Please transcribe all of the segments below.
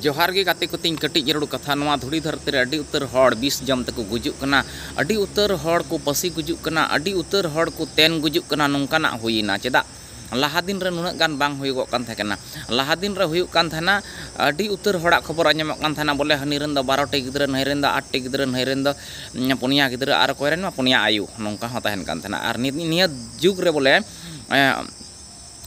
ᱡᱚᱦᱟᱨ ᱜᱮ ᱜᱟᱛᱮ ᱠᱚ ᱛᱤᱧ ᱠᱟᱹᱴᱤᱡ ᱡᱟᱹᱨᱩᱲ ᱠᱟᱛᱷᱟ ᱱᱚᱣᱟ ᱫᱷᱩᱲᱤ ᱫᱷᱟᱹᱨᱛᱤ ᱨᱮ ᱟᱹᱰᱤ ᱩᱛᱟᱹᱨ ᱦᱚᱲ ᱵᱤᱥ ᱡᱚᱢ ᱛᱮᱠᱚ ᱜᱩᱡᱩᱜ ᱠᱟᱱᱟ ᱟᱹᱰᱤ ᱩᱛᱟᱹᱨ ᱦᱚᱲ ᱠᱚ ᱯᱟᱹᱥᱤ ᱜᱩᱡᱩᱜ ᱠᱟᱱᱟ ᱟᱹᱰᱤ ᱩᱛᱟᱹᱨ ᱦᱚᱲ ᱠᱚ ᱛᱮᱱ ᱜᱩᱡᱩᱜ ᱠᱟᱱᱟ ᱱᱚᱝᱠᱟᱱᱟᱜ ᱦᱩᱭ ᱮᱱᱟ ᱪᱮᱫᱟᱜ ᱞᱟᱦᱟ ᱫᱤᱱ ᱨᱮ ᱱᱩᱱᱟᱹᱜ ᱜᱟᱱ ᱵᱟᱝ ᱦᱩᱭᱩᱜᱚᱜ ᱠᱟᱱ ᱛᱟᱦᱮᱸ ᱠᱟᱱᱟ ᱞᱟᱦᱟ ᱫᱤᱱ ᱨᱮ ᱦᱩᱭᱩᱜ ᱠᱟᱱ ᱛᱟᱦᱮᱱᱟ ᱟᱹᱰᱤ ᱩᱛᱟᱹᱨ ᱦᱚᱲᱟᱜ ᱠᱷᱚᱵᱚᱨ ᱟᱸᱡᱚᱢᱚᱜ ᱠᱟᱱ ᱛᱟᱦᱮᱱᱟ ᱵᱚᱞᱮ ᱦᱟᱹᱱᱤ ᱨᱮᱱ ᱫᱚ ᱵᱟᱨᱚ ᱴᱤ ᱜᱤᱫᱽᱨᱟᱹ ᱱᱟᱹᱭ ᱨᱮᱱ ᱫᱚ ᱟᱴ ᱴᱤ ᱜᱤᱫᱽᱨᱟᱹ ᱱᱟᱹᱭ ᱨᱮᱱ ᱫᱚ ᱯᱩᱱᱭᱟ ᱜᱤᱫᱽᱨᱟᱹ ᱟᱨ ᱚᱠᱚᱭ ᱨᱮᱱ ᱢᱟ ᱯᱩᱱᱭᱟ ᱟᱭᱳ ᱱᱚᱝᱠᱟ ᱦᱚᱸ ᱛᱟᱦᱮᱱ ᱠᱟᱱ ᱛᱟᱦᱮᱱᱟ ᱟᱨ ᱱᱤᱛ ᱱᱤᱭᱟᱹ ᱡᱩᱜᱽ ᱨᱮ ᱵᱚᱞᱮ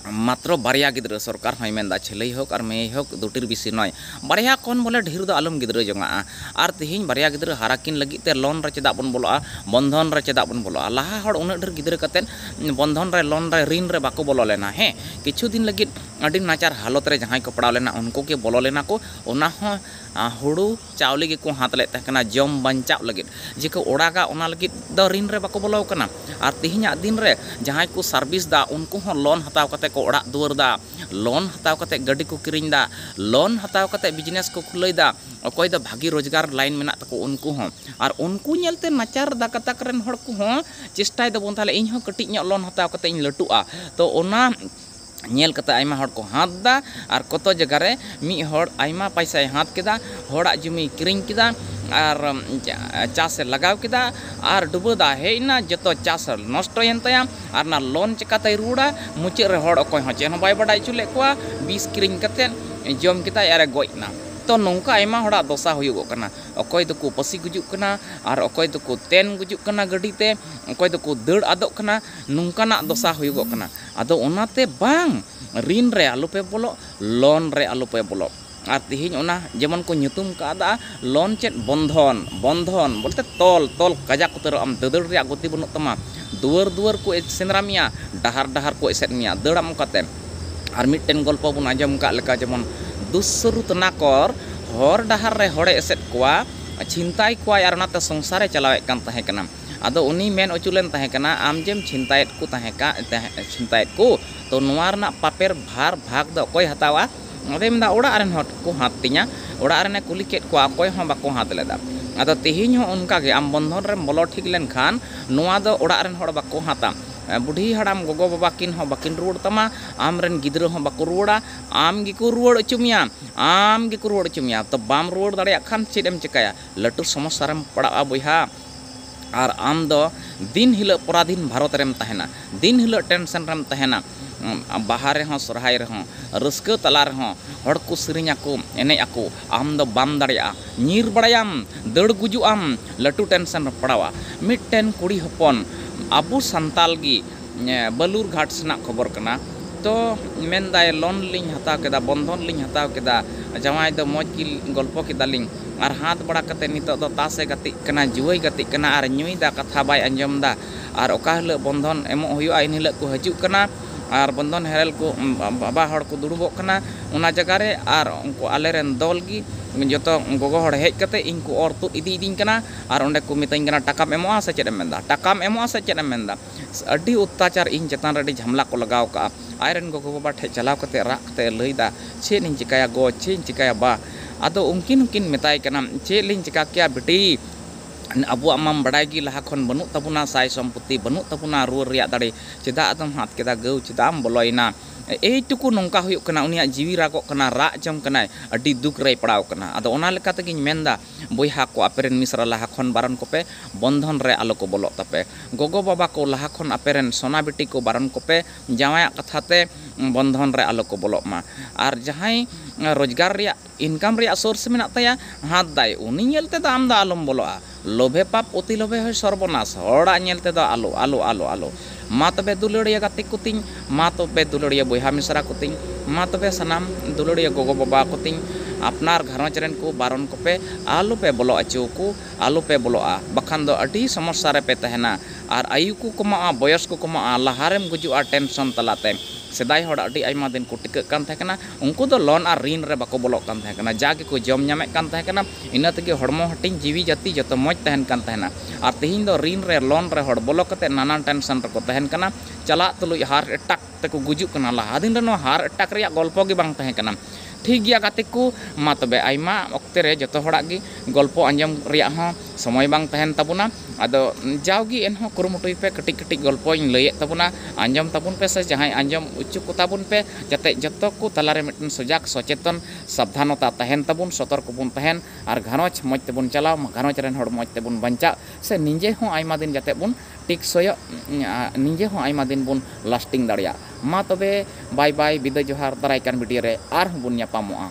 ᱢᱟᱛᱨᱚ ᱵᱟᱨᱭᱟ ᱜᱤᱫᱽᱨᱟᱹ ᱥᱚᱨᱠᱟᱨ ᱦᱚᱸᱭ ᱢᱮᱱᱫᱟ ᱪᱷᱮᱞᱮᱭ ᱦᱳᱠ ᱟᱨ ᱢᱮᱭᱮᱭ ᱦᱳᱠ ᱫᱩᱴᱤᱨ ᱵᱤᱥᱤ ᱱᱚᱭ ᱵᱟᱨᱭᱟ ᱠᱷᱚᱱ ᱵᱚᱞᱮ ᱰᱷᱤᱨ ᱫᱚ ᱟᱞᱚᱢ ᱜᱤᱫᱽᱨᱟᱹ ᱡᱚᱝᱟᱜᱼᱟ ᱟᱨ ᱛᱤᱦᱤᱧ ᱵᱟᱨᱭᱟ ᱜᱤᱫᱽᱨᱟᱹ ᱦᱟᱨᱟ ᱠᱤᱱ ᱞᱟᱹᱜᱤᱫ ᱛᱮ ᱞᱳᱱ ᱨᱮ ᱪᱮᱫᱟᱜ ᱵᱚᱱ ᱵᱚᱞᱚᱜᱼᱟ ᱵᱚᱱᱫᱷᱚᱱ ᱨᱮ ᱪᱮᱫᱟᱜ ᱵᱚᱱ ᱵᱚᱞᱚᱜᱼᱟ ᱞᱟᱦᱟ ᱦᱚᱲ ᱩᱱᱟᱹᱜ ᱰᱷᱮᱨ ᱜᱤᱫᱽᱨᱟᱹ ᱠᱟᱛᱮ ᱵᱚᱱᱫᱷᱚᱱ ᱨᱮ ᱞᱳᱱ ᱨᱮ ᱨᱤᱱ ᱨᱮ ᱵᱟᱠᱚ ᱵᱚᱞᱚ ᱞᱮᱱᱟ ᱦᱮᱸ ᱠᱤᱪᱷᱩ ᱫᱤᱱ ᱞᱟᱹᱜᱤᱫ ᱟᱹᱰᱤ ᱱᱟᱪᱟᱨ ᱦᱟᱞᱚᱛ ᱨᱮ ᱡᱟᱦᱟᱸᱭ ᱠᱚ ᱯᱟᱲᱟᱣ ᱞᱮᱱᱟ ᱩᱱᱠᱩ ᱜᱮ ᱵᱚᱞᱚ ᱞᱮᱱᱟ ᱠᱚ ᱚᱱᱟ ᱦᱚᱸ ᱦᱩᱲᱩ ᱪᱟᱣᱞᱮ ᱜᱮᱠᱚ ᱦᱟᱛ ᱞᱮᱫ ᱛᱟᱦᱮᱸ ᱠᱟᱱᱟ ᱡᱚᱢ ᱵᱟᱧᱪᱟᱜ ᱞᱟᱹᱜᱤᱫ ᱡᱮᱠᱚ ᱚᱲᱟᱜᱟ ᱚᱱᱟ ᱞᱟᱹᱜᱤᱫ ᱫᱚ ᱨᱤᱱ ᱨᱮ ᱵᱟᱠᱚ ᱵᱚᱞᱚ ᱟᱠᱟᱱᱟ ᱟᱨ ᱛᱮᱦᱮᱧᱟᱜ ᱫᱤᱱ ᱨᱮ ᱡᱟᱦᱟᱸᱭ ᱠᱚ ᱥᱟᱨᱵᱷᱤᱥ ᱮᱫᱟ ᱩᱱᱠᱩ ᱦᱚᱸ ᱞᱳᱱ ᱦᱟᱛᱟᱣ ᱠᱟᱛᱮ ᱠᱚ ᱚᱲᱟᱜ ᱫᱩᱣᱟᱹᱨ ᱮᱫᱟ ᱞᱳᱱ ᱦᱟᱛᱟᱣ ᱠᱟᱛᱮ ᱜᱟᱹᱰᱤ ᱠᱚ ᱠᱤᱨᱤᱧ ᱮᱫᱟ ᱞᱳᱱ ᱦᱟᱛᱟᱣ ᱠᱟᱛᱮ ᱵᱤᱡᱽᱱᱮᱥ ᱠᱚ ᱠᱷᱩᱞᱟᱹᱣ ᱮᱫᱟ ᱚᱠᱚᱭ ᱫᱚ ᱵᱷᱟᱹᱜᱤ ᱨᱳᱡᱽᱜᱟᱨ ᱞᱟᱭᱤᱱ ᱢᱮᱱᱟᱜ ᱛᱟᱠᱚ ᱩᱱᱠᱩ ᱦᱚᱸ ᱟᱨ ᱩᱱᱠᱩ ᱧᱮᱞ ᱛᱮ ᱱᱟᱪᱟᱨ ᱜᱟᱛᱟᱠ ᱨᱮᱱ ᱦᱚᱲ ᱠᱚᱦᱚᱸ ᱪᱮᱥᱴᱟᱭ ᱫᱟᱵᱚᱱ ᱛᱟᱦᱚᱞᱮ ᱤᱧ ᱦᱚᱸ ᱠᱟᱹᱴᱤᱡ ᱧᱚᱜ ᱞᱳᱱ ᱦᱟᱛᱟᱣ ᱠᱟᱛᱮ ᱤᱧ ᱞᱟᱹᱴᱩᱜᱼᱟ ᱛᱚ ᱚᱱᱟ ᱧᱮᱞ ᱠᱟᱛᱮ ᱟᱭᱢᱟ ᱦᱚᱲ ᱠᱚ ᱦᱟᱛ ᱮᱫᱟ ᱟᱨ ᱠᱚᱛᱚ ᱡᱟᱭᱜᱟ ᱨᱮ ᱢᱤᱫ ᱦᱚᱲ ᱟᱭᱢᱟ ᱯᱚᱭᱥᱟᱭ ᱦᱟᱛ ᱠᱮᱫᱟ ᱦᱚᱲᱟᱜ ᱡᱚᱢᱤᱭ ᱠᱤᱨᱤᱧ ᱠᱮᱫᱟ ᱟᱨ ᱪᱟᱥ ᱮ ᱞᱟᱜᱟᱣ ᱠᱮᱫᱟ ᱟᱨ ᱰᱩᱵᱟᱹ ᱫᱟᱜ ᱦᱮᱡ ᱮᱱᱟ ᱡᱚᱛᱚ ᱪᱟᱥ ᱱᱚᱥᱴᱚᱭᱮᱱ ᱛᱟᱭᱟ ᱟᱨ ᱚᱱᱟ ᱞᱳᱱ ᱪᱤᱠᱟᱹᱛᱮᱭ ᱨᱩᱣᱟᱹᱲᱟ ᱢᱩᱪᱟᱹᱫ ᱨᱮ ᱦᱚᱲ ᱚᱠᱚᱭ ᱦᱚᱸ ᱪᱮᱫ ᱦᱚᱸ ᱵᱟᱭ ᱵᱟᱰᱟᱭ ᱦᱚᱪᱚ ᱞᱮᱫ ᱠᱚᱣᱟ ᱵᱤᱥ ᱠᱤᱨᱤᱧ ᱠᱟᱛᱮ ᱡᱚᱢ ᱠᱮᱫᱟᱭ ᱟᱨᱮ ᱜᱚᱡ ᱮᱱᱟ ᱛᱚ ᱱᱚᱝᱠᱟ ᱟᱭᱢᱟ ᱦᱚᱲᱟᱜ ᱫᱚᱥᱟ ᱦᱩᱭᱩᱜᱚᱜ ᱠᱟᱱᱟ ᱚᱠᱚᱭ ᱫᱚᱠᱚ ᱯᱟᱹᱥᱤ ᱜᱩᱡᱩᱜ ᱠᱟᱱᱟ ᱟᱨ ᱚᱠᱚᱭ ᱫᱚᱠᱚ ᱛᱮᱱ ᱜᱩᱡᱩᱜ ᱠᱟᱱᱟ ᱜᱟᱹᱰᱤ ᱛᱮ ᱚᱠᱚᱭ ᱫᱚᱠᱚ ᱫᱟᱹᱲ ᱟᱫᱚᱜ ᱠᱟᱱᱟ ᱱᱚᱝᱠᱟᱱᱟᱜ ᱫᱚᱥᱟ ᱦᱩᱭᱩᱜᱚᱜ ᱠᱟᱱᱟ ᱟᱫᱚ ᱚᱱᱟᱛᱮ ᱵᱟᱝ ᱨᱤᱱ ᱨᱮ ᱟᱞᱚ ᱯᱮ ᱵᱚᱞᱚᱜ, ᱞᱚᱱ ᱨᱮ ᱟᱞᱚ ᱯᱮ ᱵᱚᱞᱚᱜ᱾ ᱟᱨ ᱛᱮᱦᱮᱧ ᱚᱱᱟ ᱡᱮᱢᱚᱱ ᱠᱚ ᱧᱩᱛᱩᱢ ᱠᱟᱣᱫᱟ ᱞᱚᱱ ᱪᱮᱫ ᱵᱚᱱᱫᱷᱚᱱ, ᱵᱚᱱᱫᱷᱚᱱ ᱵᱚᱞᱛᱮ ᱛᱚᱞ, ᱛᱚᱞ ᱠᱟᱡᱟᱠ ᱩᱛᱟᱹᱨᱚᱜ ᱟᱢ, ᱫᱟᱹᱫᱟᱹᱲ ᱨᱮᱭᱟᱜ ᱜᱚᱛᱤ ᱵᱟᱹᱱᱩᱜ ᱛᱟᱢᱟ᱾ ᱫᱩᱣᱟᱹᱨ ᱫᱩᱣᱟᱹᱨ ᱠᱚ ᱥᱮᱸᱫᱽᱨᱟ ᱢᱮᱭᱟ, ᱰᱟᱦᱟᱨ ᱰᱟᱦᱟᱨ ᱠᱚ ᱮᱥᱮᱫ ᱢᱮᱭᱟ, ᱫᱟᱹᱲ ᱟᱢ ᱚᱠᱟᱛᱮ᱾ ᱟᱨ ᱢᱤᱫᱴᱮᱱ ᱜᱚᱞᱯᱚ ᱵᱚᱱ ᱟᱸᱡᱚᱢ ᱟᱠᱟᱫ ᱞᱮᱠᱟ ᱡᱮᱢᱚᱱ ᱫᱩᱥᱥᱨᱩᱛ ᱱᱟᱠᱚᱨ ᱦᱚᱨ ᱰᱟᱦᱟᱨ ᱨᱮ ᱦᱚᱲᱮ ᱮᱥᱮᱫ ᱠᱚᱣᱟ, ᱪᱷᱤᱱᱛᱟᱭ ᱠᱚᱣᱟᱭ ᱟᱨ ᱚᱱᱟᱛᱮ ᱥᱚᱝᱥᱟᱨᱮ ᱪᱟᱞᱟᱣᱮᱫ ᱠᱟᱱ ᱛᱟᱦᱮᱸ ᱠᱟᱱᱟ᱾ ᱟᱫᱚ ᱩᱱᱤᱭ ᱢᱮᱱ ᱚᱪᱚ ᱞᱮᱱ ᱛᱟᱦᱮᱸ ᱠᱟᱱᱟ ᱟᱢ ᱡᱮᱢ ᱪᱷᱤᱱᱛᱟᱭᱮᱫ ᱠᱚ ᱛᱟᱦᱮᱸ ᱪᱷᱤᱱᱛᱟᱭᱮᱫ ᱠᱚ ᱛᱚ ᱱᱚᱶᱟ ᱨᱮᱱᱟᱜ ᱯᱟᱯᱮᱨ ᱵᱷᱟᱨ ᱵᱷᱟᱜᱽ ᱫᱚ ᱚᱠᱚᱭ ᱦᱟᱛᱟᱣᱟ? ᱟᱫᱚᱭ ᱢᱮᱱ ᱮᱫᱟ ᱚᱲᱟᱜ ᱨᱮᱱ ᱦᱚᱲ ᱠᱚ ᱦᱟᱛ ᱛᱤᱧᱟ᱾ ᱚᱲᱟᱜ ᱨᱮᱱ ᱮ ᱠᱩᱞᱤ ᱠᱮᱫ ᱠᱚᱣᱟ ᱚᱠᱚᱭ ᱦᱚᱸ ᱵᱟᱠᱚ ᱦᱟᱛ ᱞᱮᱫᱟ᱾ ᱟᱫᱚ ᱛᱮᱦᱮᱧ ᱦᱚᱸ ᱚᱱᱠᱟ ᱜᱮ ᱟᱢ ᱵᱚᱱᱫᱷᱚᱱ ᱨᱮᱢ ᱵᱚᱞᱚ ᱴᱷᱤᱠ ᱞᱮᱱ ᱠᱷᱟᱱ ᱱᱚᱶᱟ ᱫᱚ ᱚᱲᱟᱜ ᱨᱮᱱ ᱦᱚᱲ ᱵᱟᱠᱚ ᱦᱟᱛᱟ᱾ ᱵᱩᱰᱷᱤ ᱦᱟᱲᱟᱢ ᱜᱚᱜᱚ ᱵᱟᱵᱟ ᱠᱤᱱ ᱦᱚᱸ ᱵᱟᱠᱤᱱ ᱨᱩᱣᱟᱹᱲ ᱛᱟᱢᱟ᱾ ᱟᱢ ᱨᱮᱱ ᱜᱤᱫᱽᱨᱟᱹ ᱦᱚᱸ ᱵᱟᱠᱚ ᱨᱩᱣᱟᱹᱲᱟ᱾ ᱟᱢ ᱜᱮᱠᱚ ᱨᱩᱣᱟᱹᱲ ᱚᱪᱚ ᱢᱮᱭᱟ᱾ ᱟᱢ ᱜᱮᱠᱚ ᱨᱩᱣᱟᱹᱲ ᱚᱪᱚ ᱢᱮᱭᱟ᱾ ᱛᱚ ᱵᱟᱢ ᱨᱩᱣᱟᱹᱲ ᱫᱟᱲᱮᱭᱟᱜ ᱠᱷᱟᱱ ᱪᱮᱫ ᱮᱢ ᱪᱮᱠᱟᱭᱟ? ᱞᱟᱹᱴᱩ ᱥᱚᱢᱚᱥᱥᱟ ᱨᱮᱢ ᱯᱟᱲᱟᱜᱼᱟ ᱵᱚᱭᱦᱟ᱾ ᱟᱨ ᱟᱢ ᱫᱚ ᱫᱤᱱ ᱦᱤᱞᱟᱹᱜ ᱯᱚᱨᱟᱫᱷᱤᱱ ᱵᱷᱟᱨᱚᱛ ᱨᱮᱢ ᱛᱟᱦᱮᱱᱟ ᱫᱤᱱ ᱦᱤᱞᱟᱹᱜ ᱴᱮᱱᱥᱮᱱ ᱨᱮᱢ ᱛᱟᱦᱮᱱᱟ ᱵᱟᱦᱟ ᱨᱮᱦᱚᱸ ᱥᱚᱨᱦᱟᱭ ᱨᱮᱦᱚᱸ ᱨᱟᱹᱥᱠᱟᱹ ᱛᱟᱞᱟ ᱨᱮᱦᱚᱸ ᱦᱚᱲ ᱠᱚ ᱥᱮᱨᱮᱧ ᱟᱠᱚ ᱮᱱᱮᱡ ᱟᱠᱚ ᱟᱢ ᱫᱚ ᱵᱟᱢ ᱫᱟᱲᱮᱭᱟᱜᱼᱟ ᱧᱤᱨ ᱵᱟᱲᱟᱭᱟᱢ ᱫᱟᱹᱲ ᱜᱩᱡᱩᱜ ᱟᱢ ᱞᱟᱹᱴᱩ ᱴᱮᱱᱥᱮᱱ ᱨᱮᱢ ᱯᱟᱲᱟᱣᱟ ᱢᱤᱫᱴᱮᱱ ᱠᱩᱲᱤ ᱦᱚᱯᱚᱱ ᱟᱵᱚ ᱥᱟᱱᱛᱟᱞ ᱜᱮ ᱵᱟᱞᱩᱨᱜᱷᱟᱴ ᱥᱮᱱᱟᱜ ᱠᱷᱚᱵᱚᱨ ᱠᱟᱱᱟ ᱛᱚ ᱢᱮᱱᱫᱟᱭ ᱞᱳᱱ ᱞᱤᱧ ᱦᱟᱛᱟᱣ ᱠᱮᱫᱟ ᱵᱚᱱᱫᱷᱚᱱ ᱞᱤᱧ ᱦᱟᱛᱟᱣ ᱠᱮᱫᱟ ᱡᱟᱶᱟᱭ ᱫᱚ ᱢᱚᱡᱽ ᱜᱮ ᱜᱚᱞᱯᱚ ᱠᱮᱫᱟᱞᱤᱧ ᱟᱨ ᱦᱟᱛᱟᱣ ᱵᱟᱲᱟ ᱠᱟᱛᱮᱫ ᱱᱤᱛᱚᱜ ᱫᱚ ᱛᱟᱥ ᱮ ᱜᱟᱛᱮᱜ ᱠᱟᱱᱟ ᱡᱩᱣᱟᱹᱭ ᱜᱟᱛᱮᱜ ᱠᱟᱱᱟ ᱟᱨ ᱧᱩᱭ ᱫᱟ ᱠᱟᱛᱷᱟ ᱵᱟᱭ ᱟᱸᱡᱚᱢ ᱫᱟ ᱟᱨ ᱚᱠᱟ ᱦᱤᱞᱳᱜ ᱵᱚᱱᱫᱷᱚᱱ ᱮᱢᱚᱜ ᱦᱩᱭᱩᱜᱼᱟ ᱮᱱ ᱦᱤᱞᱳᱜ ᱠᱚ ᱦᱤᱡᱩᱜ ᱠᱟᱱᱟ ᱟᱨ ᱵᱚᱱᱫᱷᱚᱱ ᱦᱮᱨᱮᱞ ᱠᱚ ᱵᱟᱵᱟ ᱦᱚᱲ ᱠᱚ ᱫᱩᱲᱩᱵᱚᱜ ᱠᱟᱱᱟ ᱚᱱᱟ ᱡᱟᱭᱜᱟ ᱨᱮ ᱟᱨ ᱩᱱᱠᱩ ᱟᱞᱮ ᱨᱮᱱ ᱫᱚᱞ ᱜᱮ ᱡᱚᱛᱚ ᱜᱚᱜᱚ ᱦᱚᱲ ᱦᱮᱡ ᱠᱟᱛᱮᱫ ᱤᱧ ᱠᱚ ᱚᱨ ᱛᱩᱫ ᱤᱫᱤᱭᱮᱫᱤᱧ ᱠᱟᱱᱟ ᱟᱨ ᱚᱸᱰᱮ ᱠᱚ ᱢᱮᱛᱟᱹᱧ ᱠᱟᱱᱟ ᱴᱟᱠᱟᱢ ᱮᱢᱚᱜᱼᱟ ᱥᱮ ᱪᱮᱫ ᱮᱢ ᱢᱮᱱᱫᱟ ᱴᱟᱠᱟᱢ ᱮᱢᱚᱜᱼᱟ ᱥᱮ ᱪᱮᱫ ᱮᱢ ᱢᱮᱱᱫᱟ ᱟᱹᱰᱤ ᱚᱛᱛᱟᱪᱟᱨ ᱤᱧ ᱪᱮᱛᱟᱱ ᱨᱮ ᱟᱹᱰᱤ ᱡᱷᱟᱢᱮᱞᱟ ᱠᱚ ᱞᱟᱜᱟᱣ ᱠᱟᱜᱼᱟ ᱟᱡ ᱨᱮᱱ ᱜᱚᱜᱚ ᱵᱟᱵᱟ ᱴᱷᱮᱱ ᱪᱟᱞᱟᱣ ᱠᱟᱛᱮᱫ ᱨᱟᱜ ᱠᱟᱛᱮᱫ ᱮ ᱞᱟᱹᱭ ᱮᱫᱟ ᱪᱮᱫ ᱤᱧ ᱪᱤᱠᱟᱹᱭᱟ ᱜᱚ ᱪᱮᱫ ᱤᱧ ᱪᱤᱠᱟᱹᱭᱟ ᱵᱟ ᱟᱫᱚ ᱩᱱᱠᱤᱱ ᱦᱚᱸᱠᱤᱱ ᱢᱮᱛᱟᱭ ᱠᱟᱱᱟ ᱪᱮᱫ ᱞᱤᱧ ᱪᱤᱠᱟᱹ ᱠᱮᱭᱟ ᱵᱤᱴᱤ ᱟᱵᱚᱣᱟᱜ ᱢᱟᱢ ᱵᱟᱰᱟᱭ ᱜᱮ ᱞᱟᱦᱟ ᱠᱷᱚᱱ ᱵᱟᱹᱱᱩᱜ ᱛᱟᱵᱚᱱᱟ ᱥᱟᱭ ᱥᱚᱢᱯᱚᱛᱛᱤ ᱵᱟᱹᱱᱩᱜ ᱛᱟᱵᱚᱱᱟ ᱨᱩᱣᱟᱹᱲ ᱨᱮᱭᱟᱜ ᱫᱟᱲᱮ ᱪᱮᱫᱟᱜ ᱟᱫᱚᱢ ᱦᱟᱛ ᱠᱮᱫᱟ ᱜᱟᱹᱣ ᱪᱮᱫᱟᱜ ᱮᱢ ᱵᱚᱞᱚᱭᱮᱱᱟ ᱮᱭ ᱴᱩᱠᱩ ᱱᱚᱝᱠᱟ ᱦᱩᱭᱩᱜ ᱠᱟᱱᱟ ᱩᱱᱤᱭᱟᱜ ᱡᱤᱣᱤ ᱨᱟᱜᱚᱜ ᱠᱟᱱᱟ ᱨᱟᱜ ᱡᱚᱝ ᱠᱟᱱᱟᱭ ᱟᱹᱰᱤ ᱫᱩᱠ ᱨᱮᱭ ᱯᱟᱲᱟᱣ ᱠᱟᱱᱟ ᱟᱫᱚ ᱚᱱᱟ ᱞᱮᱠᱟ ᱛᱮᱜᱮᱧ ᱢᱮᱱᱫᱟ ᱵᱚᱭᱦᱟ ᱠᱚ ᱟᱯᱮ ᱨᱮᱱ ᱢᱤᱥᱨᱟ ᱞᱟᱦᱟ ᱠᱷᱚᱱ ᱵᱟᱨᱚᱱ ᱠᱚᱯᱮ, ᱵᱚᱱᱫᱷᱚᱱ ᱨᱮ ᱟᱞᱚ ᱠᱚ ᱵᱚᱞᱚᱜ ᱛᱟᱯᱮ᱾ ᱜᱚᱜᱚ ᱵᱟᱵᱟ ᱠᱚ ᱞᱟᱦᱟ ᱠᱷᱚᱱ ᱟᱯᱮ ᱨᱮᱱ ᱥᱚᱱᱟ ᱵᱤᱴᱤ ᱠᱚ ᱵᱟᱨᱚᱱ ᱠᱚᱯᱮ, ᱡᱟᱶᱟᱭᱟᱜ ᱠᱟᱛᱷᱟ ᱛᱮ ᱵᱚᱱᱫᱷᱚᱱ ᱨᱮ ᱟᱞᱚ ᱠᱚ ᱵᱚᱞᱚᱜ ᱢᱟ᱾ ᱟᱨ ᱡᱟᱦᱟᱸᱭ ᱨᱚᱡᱽᱜᱟᱨ ᱨᱮᱭᱟᱜ, ᱤᱱᱠᱟᱢ ᱨᱮᱭᱟᱜ ᱥᱳᱨᱥ ᱢᱮᱱᱟᱜ ᱛᱟᱭᱟ, ᱦᱟᱛ ᱫᱟᱭ, ᱩᱱᱤ ᱧᱮᱞ ᱛᱮ ᱫᱚ ᱟᱢ ᱫᱚ ᱟᱞᱚᱢ ᱵᱚᱞᱚᱜᱼᱟ᱾ ᱞᱳᱵᱷᱮ ᱯᱟᱯ, ᱚᱛᱤ ᱞᱳᱵᱷᱮ ᱦᱳᱭ ᱥᱚᱨᱵᱚᱱᱟᱥ, ᱦᱚᱲᱟᱜ ᱧᱮᱞ ᱛᱮ ᱫᱚ ᱟᱞᱚ, ᱟᱞᱚ, ᱟᱞᱚ, ᱟᱞᱚ᱾ ᱢᱟ ᱛᱚᱵᱮ ᱫᱩᱞᱟᱹᱲᱤᱭᱟᱹ ᱜᱟᱛᱮ ᱠᱚᱛᱤᱧ, ᱢᱟ ᱛᱚᱵᱮ ᱫᱩᱞᱟᱹᱲᱤᱭᱟᱹ ᱵᱚᱭᱦᱟ ᱢᱤᱥᱨᱟ ᱠᱚᱛᱤᱧ, ᱢᱟ ᱛᱚᱵᱮ ᱥᱟᱱᱟᱢ ᱫᱩᱞᱟᱹᱲᱤᱭᱟᱹ ᱜᱚᱜᱚ ᱵᱟᱵᱟ ᱠᱚᱛᱤᱧ, ᱟᱯᱱᱟᱨ ᱜᱷᱟᱨᱚᱸᱡᱽ ᱨᱮᱱ ᱠᱚ ᱵᱟᱨᱚᱱ ᱠᱚᱯᱮ, ᱟᱞᱚ ᱯᱮ ᱵᱚᱞᱚ ᱟᱹᱪᱩ ᱟᱠᱚ, ᱟᱞᱚ ᱯᱮ ᱵᱚᱞᱚᱜᱼᱟ, ᱵᱟᱠᱷᱟᱱ ᱫᱚ ᱟᱹᱰᱤ ᱥᱚᱢᱚᱥᱥᱟ ᱨᱮ ᱯᱮ ᱛᱟᱦᱮᱸᱱᱟ᱾ ᱟᱨ ᱟᱭᱩ ᱠᱚ ᱠᱚᱢᱚᱜᱼᱟ, ᱵᱚᱭᱚᱥ ᱠᱚ ᱠᱚᱢᱚᱜᱼᱟ, ᱞᱟᱦᱟ ᱨᱮᱢ ᱜᱩᱡᱩᱜᱼᱟ ᱴᱮᱱᱥᱚᱱ ᱛᱟᱞᱟ ᱛᱮ᱾ ᱥᱮᱫᱟᱭ ᱦᱚᱲ ᱟᱹᱰᱤ ᱟᱭᱢᱟ ᱫᱤᱱ ᱠᱚ ᱴᱤᱠᱟᱹᱜ ᱠᱟᱱ ᱛᱟᱦᱮᱸ ᱠᱟᱱᱟ, ᱩᱱᱠᱩ ᱫᱚ ᱞᱚᱱ ᱟᱨ ᱨᱤᱱ ᱨᱮ ᱵᱟᱠᱚ ᱵᱚᱞᱚᱜ ᱠᱟᱱ ᱛᱟᱦᱮᱸ ᱠᱟᱱᱟ, ᱡᱟ ᱜᱮᱠᱚ ᱡᱚᱢ ᱧᱟᱢᱮᱫ ᱠᱟᱱ ᱛᱟᱦᱮᱸ ᱠᱟᱱᱟ, ᱤᱱᱟᱹ ᱛᱮᱜᱮ ᱦᱚᱲᱢᱚ ᱦᱟᱹᱴᱤᱧ, ᱡᱤᱣᱤ ᱡᱟᱹᱛᱤ ᱡᱚᱛᱚ ᱢᱚᱡᱽ ᱛᱟᱦᱮᱸᱱ ᱠᱟᱱ ᱛᱟᱦᱮᱸᱱᱟ᱾ ᱟᱨ ᱛᱮᱦᱮᱧ ᱫᱚ ᱨᱤᱱ ᱨᱮ ᱞᱚᱱ ᱨᱮ ᱦᱚᱲ ᱵᱚᱞᱚ ᱠᱟᱛᱮ ᱱᱟᱱᱟᱱ ᱴᱮᱱᱥᱚᱱ ᱨᱮᱠᱚ ᱛᱟᱦᱮᱱ ᱠᱟᱱᱟ ᱪᱟᱞᱟᱜ ᱛᱩᱞᱩᱡ ᱦᱟᱨᱴ ᱮᱴᱟᱠ ᱛᱮᱠᱚ ᱜᱩᱡᱩᱜ ᱠᱟᱱᱟ ᱞᱟᱦᱟ ᱫᱤᱱ ᱨᱮ ᱱᱚᱣᱟ ᱦᱟᱨᱴ ᱮᱴᱟᱠ ᱨᱮᱭᱟᱜ ᱜᱚᱞᱯᱚ ᱜᱮ ᱵᱟᱝ ᱛᱟᱦᱮᱸ ᱠᱟᱱᱟ ᱴᱷᱤᱠ ᱜᱮᱭᱟ ᱜᱟᱛᱮ ᱠᱚ ᱢᱟ ᱛᱚᱵᱮ ᱟᱭᱢᱟ ᱚᱠᱛᱮ ᱨᱮ ᱡᱚᱛᱚ ᱦᱚᱲᱟᱜ ᱜᱮ ᱜᱚᱞᱯᱚ ᱟᱸᱡᱚᱢ ᱨᱮᱭᱟᱜ ᱦᱚᱸ ᱥᱚᱢᱚᱭ ᱵᱟᱝ ᱛᱟᱦᱮᱱ ᱛᱟᱵᱚᱱᱟ ᱟᱫᱚ ᱡᱟᱣ ᱜᱮ ᱮᱱ ᱦᱚᱸ ᱠᱩᱨᱩᱢᱩᱴᱩᱭ ᱯᱮ ᱠᱟᱹᱴᱤᱡ ᱠᱟᱹᱴᱤᱡ ᱜᱚᱞᱯᱚᱧ ᱞᱟᱹᱭᱮᱫ ᱛᱟᱵᱚᱱᱟ ᱟᱸᱡᱚᱢ ᱛᱟᱵᱚᱱ ᱯᱮ ᱥᱮ ᱡᱟᱦᱟᱸᱭ ᱟᱸᱡᱚᱢ ᱚᱪᱚ ᱠᱚ ᱛᱟᱵᱚᱱ ᱯᱮ ᱡᱟᱛᱮ ᱡᱚᱛᱚ ᱠᱚ ᱛᱟᱞᱟ ᱨᱮ ᱢᱤᱫᱴᱮᱱ ᱥᱚᱡᱟᱜᱽ ᱥᱚᱪᱮᱛᱚᱱ ᱥᱟᱵᱫᱷᱟᱱᱚᱛᱟ ᱛᱟᱦᱮᱱ ᱛᱟᱵᱚᱱ ᱥᱚᱛᱚᱨᱠᱚ ᱵᱚᱱ ᱛᱟᱦᱮᱱ ᱟᱨ ᱜᱷᱟᱨᱚᱸᱡᱽ ᱢᱚᱡᱽ ᱛᱮᱵᱚᱱ ᱪᱟᱞᱟᱣ, ᱜᱷᱟᱨᱚᱸᱡᱽ ᱨᱮᱱ ᱦᱚᱲ ᱢᱚᱡᱽ ᱛᱮᱵᱚᱱ ᱵᱟᱧᱪᱟᱜ ᱥᱮ ᱱᱤᱡᱮ ᱦᱚᱸ ᱟᱭᱢᱟ ᱫᱤᱱ ᱡᱟᱛᱮ ᱵᱚᱱ ᱴᱮᱠᱥᱚᱭᱚᱜ, ᱱᱤᱡᱮ ᱦᱚᱸ ᱟᱭᱢᱟ ᱫᱤᱱ ᱵᱚᱱ ᱞᱟᱥᱴᱤᱝ ᱫᱟᱲᱮᱭᱟᱜ᱾ ᱢᱟ ᱛᱚᱵᱮ ᱵᱟᱭ ᱵᱟᱭ, ᱵᱤᱫᱟᱹᱭ ᱡᱚᱦᱟᱨ, ᱫᱟᱨᱟᱭ ᱠᱟᱱ ᱵᱷᱤᱰᱤᱭᱳ ᱨᱮ ᱟᱨ ᱦᱚᱸ ᱵᱚᱱ ᱧᱟᱯᱟᱢᱚᱜᱼᱟ᱾